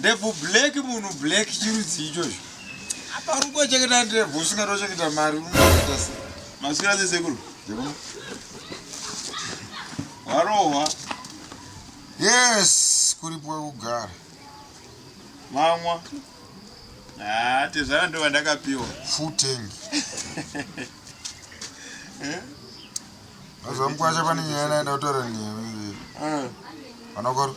Ndebvu black munhu black chirudzi ichocho. Apa ruko cheketa ndebvu usina rocheketa mari unoita se. Maswira se sekuru. Yebo. Warowa. Yes, kuripwa kugara. Mamwa. Ah, tezvana ndo vandakapiwa. Futing. Eh? Azamkwacha pane nyaya naenda kutaura newe. Eh. Anokoro.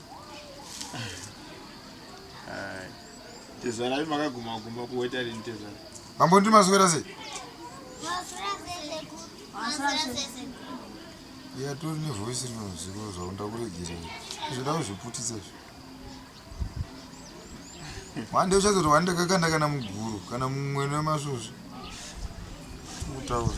tezvara ayi makaguma guma kuweta rini tezvara mambo ndi maswera sei ya tori nevoisi rinoziko zvaunda kuregera zvoda kuzviputisa zvo wande uchazoti wandakakanda kana muguru kana mumwene wemasvusvi kutaura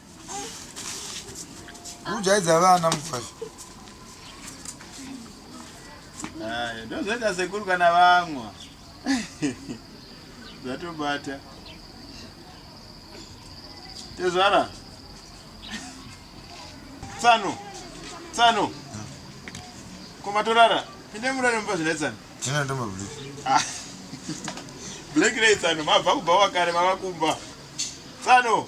Ujaidza vana mufashi. Ayo, ndozoita sekuru kana vamwa. Zatobata. Tezvara. Tsano. Tsano. Koma torara. Pinde murare mumba zvine tsano. Tino ndoma black. Ah. Black ray tsano, mabva kubva wakare mava kumba. Tsano.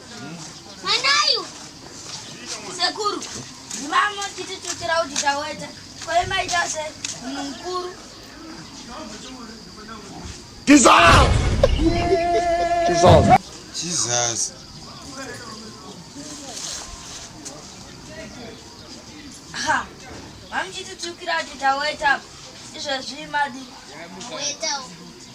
Mwanayu. Sekuru. Mama titi tutira kuti tawaita. Kwa hiyo maita se mkuru. Dissolve. Dissolve. Jesus. Ha. Mama titi tukira kuti tawaita. Izvezvi madi. Waita.